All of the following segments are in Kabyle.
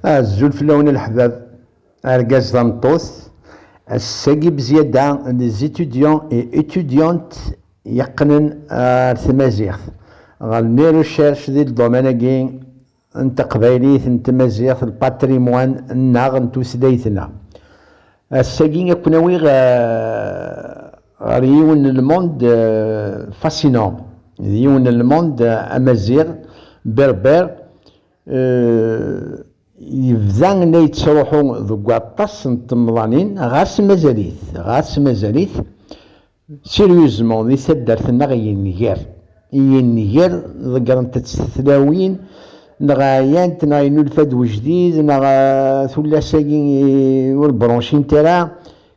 Azul fell-awen a leḥbab, argaz tameṭṭut, ass-agi bzyada les étudiants et étudiantes yeqqnen ar tmaziɣt ɣer les recherches di lḍuman-agi n teqbaylit n tmaziɣt le patrimoine nneɣ n tutlayt-nneɣ. Ass-agi a ken-awiɣ ɣer yiwen n le monde fascinant, d yiwen n le monde amaziɣ, berbère, yebda la yettruḥu deg waṭas n temḍanin, ɣas mazal-it, ɣas mazal-it, sérieusement, di taddart-nneɣ yenger, yenger, ḍeggṛent-tt tlawin, neɣ ɛyant, neɣ yennulfa-d wejdid, neɣ tullas-agi ur branchint ara,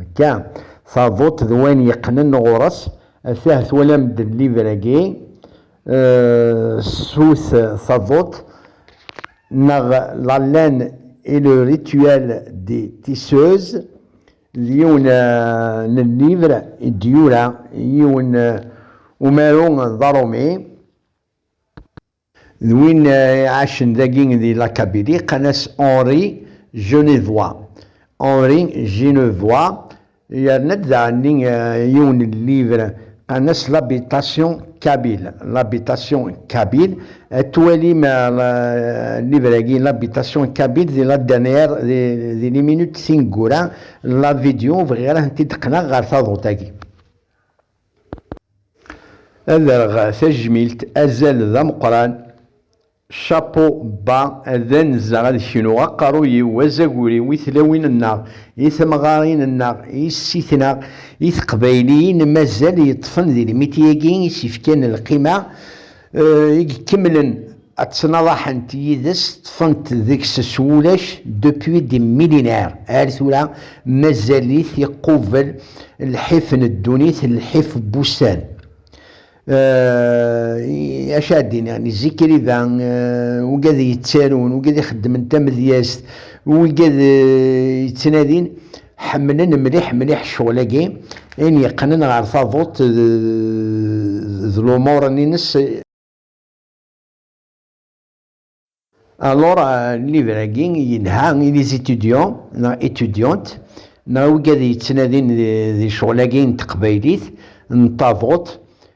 Akka, taḍuṭ d wayen yeqqnen ɣur-s, atah twalam-d livre-agi, Sous taḍuṭ, neɣ La laine et le rituel des tisseuses, d yiwen n llivr i d-yura yiwen umaru d aṛumi, D win iɛacen dagi di la Kabylie, qqan-as Henri Genevois, Henri Genevois, yerna-d daɣenni yiwen n livre qqan-as L'habitation kabyle, L'habitation kabyle, ad twalim livre-agi L'habitation kabyle di la dernière, di les minutes tineggura n la vidéo, ur bɣiɣ ara ad tent-id-qqneɣ ɣer taḍuṭ-agi. Ad rreɣ tajmilt azal d ameqqran chapeau bas ad anzeɣ ad knuɣ aqerruy-iw azagur-iw i tlawin-nneɣ i temɣarin-nneɣ i sit-neɣ i teqbayliyin mazal yeṭṭfen di lmiti-agi i s-yefkan lqima I ikemmlen ad ttnaḍaḥent yid-s, ṭṭfent deg-s s wulac, depuis des millénaires, ar tura mazal-it iqubel lḥif n ddunit, lḥif n wussan. I acu ara d-iniɣ, n Zikriba, wigad yettarun, wigad ixeddmen tamedyazt, wigad yettnadin, ḥemmlen mliḥ mliḥ ccɣel-agi in yeqqnen ɣer taḍuṭ d lumuṛen-ines. Alors, livre-agi yelha i les étudiants neɣ étudiantes neɣ i wigi ad yettnadin di ccɣel-agi n teqbaylit n taḍuṭ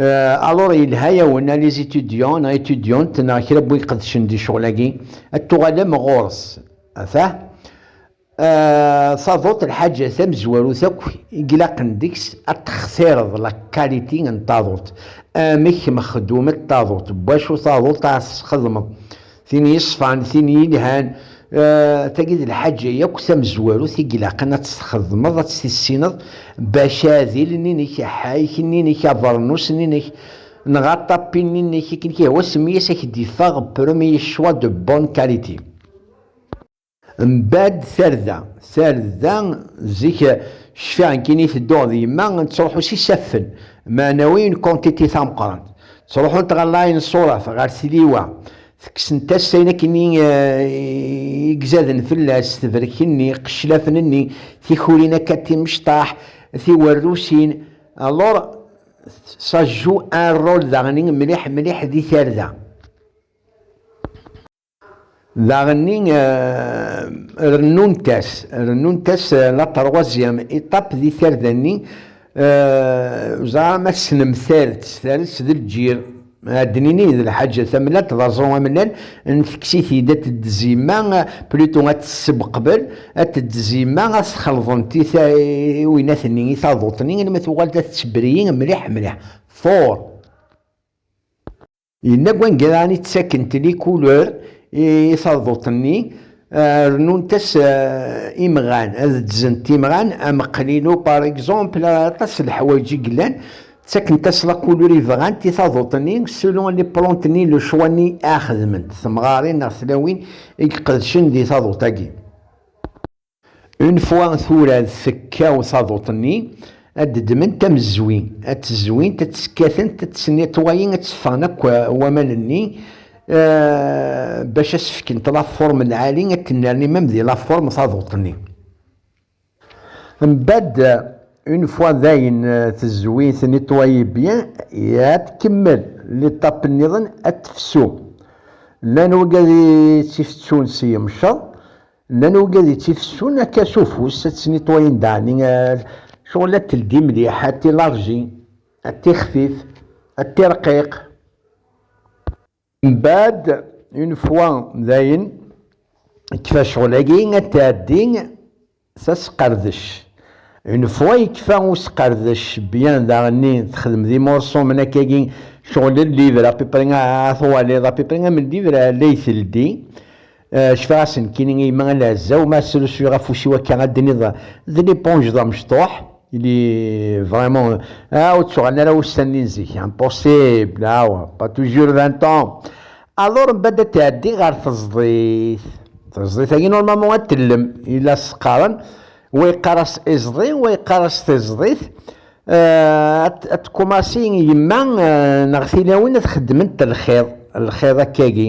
alors euh, yelha yawen a les étudiants neɣ étudiante neɣ kra n win iqedcen di ccɣel-agi ad tuɣalem ɣur-s afah taduḍt euh, lḥaǧa tamezwarut akk i ilaqen deg-s ad textireḍ la qualité n taduḍt amek mexdumet taduḍt n wacu taduḍt ara tesxedmeḍ Tin yeṣfan, tin yelhan, tagi d lḥaǧa yakk tamezwarut i ilaqen ad tt-txedmeḍ, ad tt-tissineḍ, bac aɛdil-nni-inek, aḥayek-nni-inek, abeṛnus-nni-inek, neɣ aṭapi-nni-inek, akken i k-ihwa semmi-as, a k-d-iffeɣ Premier Choix de Bonne Qualité. Mbadd tarda, tarda zik cfiɣ nekkini tedduɣ d yemma nettruḥu s isaffen meɛnawiyen quantité tameqqrant. Ttruḥunt ɣer Laɛin Ṣurat, ɣer tliwa, tekksent-as ayen akken i igzaden fell-as, tebrek-nni, qeclafen-nni, tikurin akka timecṭaḥ, tiwerrusin, alors ça joue un rôle daɣen mliḥ mliḥ di tarda. Daɣenni rennunt-as, rennunt-as la troisième étape di tarda-nni, ẓra ma tesnemtar-d s ters d lǧir. Ad d-nini d lḥaǧa tamellalt d aẓru amellal n teksitid ad t-id-zima, plutôt ad t-tessebqbel, ad t-id-zima, ad t-xelḍent i twiynat-nni, i taḍuṭ-nni, almi tuɣal d at-tebri mliḥ mliḥ. Four. Yella deg wanga daɣen i ttakkent li couleur i taduṭ-nni, rennunt-as imɣan, ad ddzent imɣan ameqlilu par egzanpl, ar aṭas n leḥwayeǧ i yellan, ttakkent-as la couleur i bɣant i taduṭ-nni selon li plante-nni, le choix-nni ara xedment, temɣarin neɣ tlawin i iqedcen di taduṭ-agi. Une fois tura ad tekkaw taḍuṭ-nni, ad d-ddment tamezzwi, ad tt-zwint, ad tt-skatent, ad tt-netwayin, ad tt-ffɣen akk waman-nni bac ad s-fkent la forme n lɛali, ad tennerni même di la forme taḍuṭ-nni. Mbadd une fois dayen tezwi, tnetwayi bien, ad tkemmel l'étape nniḍen ad tefsu. Llan wagad i tt-ifettun s yemceḍ, Nnan ugad ittifessun akka s ufus ad ttniṭwayen daɛni cɣel ad teldi mliḥ ad tilarji ad tixfif ad tirqiq. Mbaɛd une fois dayen kfa cɣel agi ad tɛeddi s asqerdec une fois yekfa usqerdec bien daɣenni texdem d imurṣu mnak agi cɣel llivre à peu près a twaliḍ à peu près am llivre lay teldi Eh, cfiɣ-asen kini i yemma ala azzaw ma srusuyeɣ afus-iw akka ad d-tiniḍ d liponj d amecṭuḥ il est vraiment ah, ur ttuɣalen ara ussan-nni n zik impossible ah ouais pas toujours 20 ans alors mbad ad tɛeddi ɣer teẓdit teẓdit-agi normalement ad tellem ila s-qqaren wa yeqqar-as iẓdi wa yeqqar-as tiẓdit eh, ad tkumassi yemma eh, neɣ tilawin ad xeddment lxiḍ lxiḍ akkagi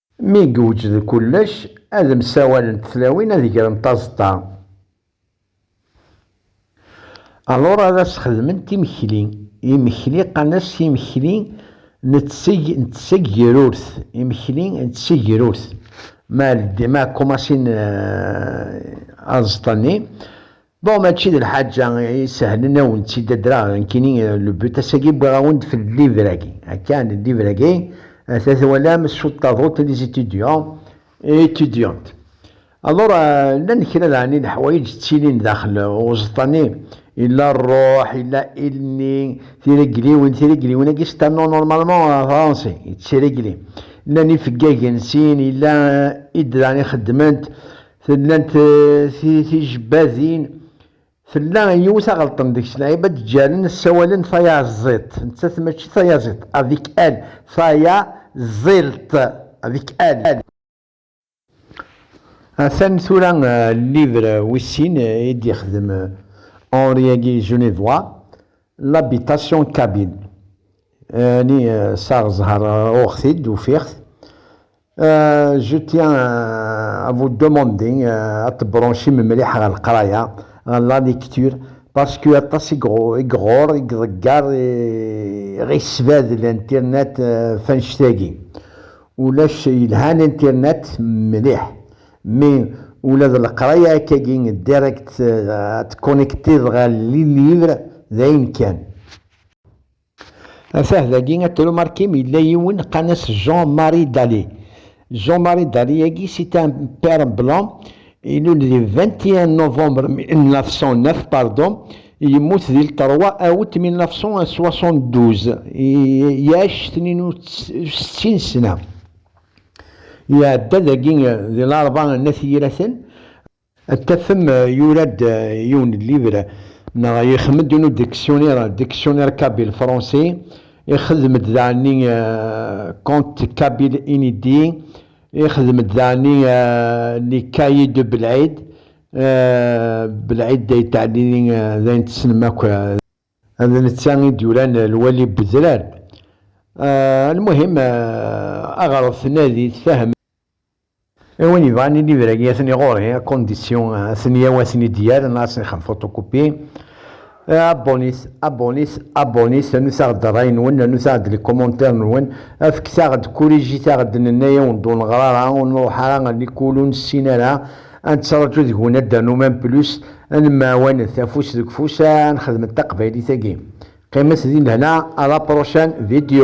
Mi yewjed kullec, ad msawalent tlawin ad grent aẓeṭṭa. Alur ad as-xedment imekli. Imekli qqaren-as imekli n tsegrurt, imekli n tsegrurt. Ma ldin, ma kumasin aẓeṭṭa-nni, Bon mačči d lḥaǧa isehlen a wen-tt-id adreɣ nekkini le but ass-agi wwiɣ-awen-d fell livre-agi akka le livre-agi ata twalam sous taduṭ les étudiants et étudiantes alors llan kra daɣen i leḥwayeǧ ttilin daxel uẓeṭṭa-nni illa rruḥ illa ilni tiregliwin tiregliwin-agi c'est un nom normalement français yettregli llan ifeggagen sin illa id daɣen ixeddment Tellant tijebbadin, tella yiwet aɣelṭen deg-s lɛiba d-ǧǧaren ssawalen tayaẓiḍt, nettat mačči tayaẓiḍt, avec elle, tayaẓiḍt, avec elle. Atan tura livre wis sin i d-yexdem Henri-agi Genevois, L'habitation kabyle, ɛni saɣ ẓher uɣeɣ-t-id, ufiɣ-t, Euh, je tiens euh, à vous demander euh, à te brancher me mliḥ ɣer leqraya ɣer la lecture parce que aṭas i igror i iḍeggar ɣisbad l'internet fanect-agi ulac yelhan internet mliḥ mais ula d leqraya akkagi direct ad tconnecteḍ ɣer li livre d ayen kan Atah dagi a tru Markim yella yiwen qqan-as Jean Marie Daly. Jean Marie Daly agi c'est un père blanc ilul di vingt et un novembre mille neuf cent neuf pardon yemmut di le trois août mille neuf cent soixante douze yaac tnin u settin ssna. Iɛedda dagi di larebɛa n At Yiraten. Ad tafem yura-d yiwen livr neɣ yexdem-d unu diksyunir, dictionnaire kabyle français, ixdem-d daɛni contes kabyles inédits, ixdem-d daɛni les cahiers de Belɛid, Belɛid Ayt Ɛli d ayen tessnem akk, d netta i d-yuran lwali n wedrar, lmuhim aɣret nadi tfehmem. I win yebɣan i libra-agi atni ɣur-i, à condition Tniyaw ad ten-id-yerr neɣ ad ten-ixen photocopie. Abonnez, abonnez, abonnez, rnut-aɣ-d rray-nwen, rnut-aɣ-d les commentaires-nwen, fket-aɣ-d, corrigit-aɣ-d, nenna-yawen-d ur neɣra ara, ur nruḥ ara à l'école, ur nessin ara, ad nettraǧu deg-wen ad d-ternum un plus, ad nemɛawanet afus deg ufus, ad nxedmet taqbaylit-agi. Qqimet di lehna, à la prochaine vidéo.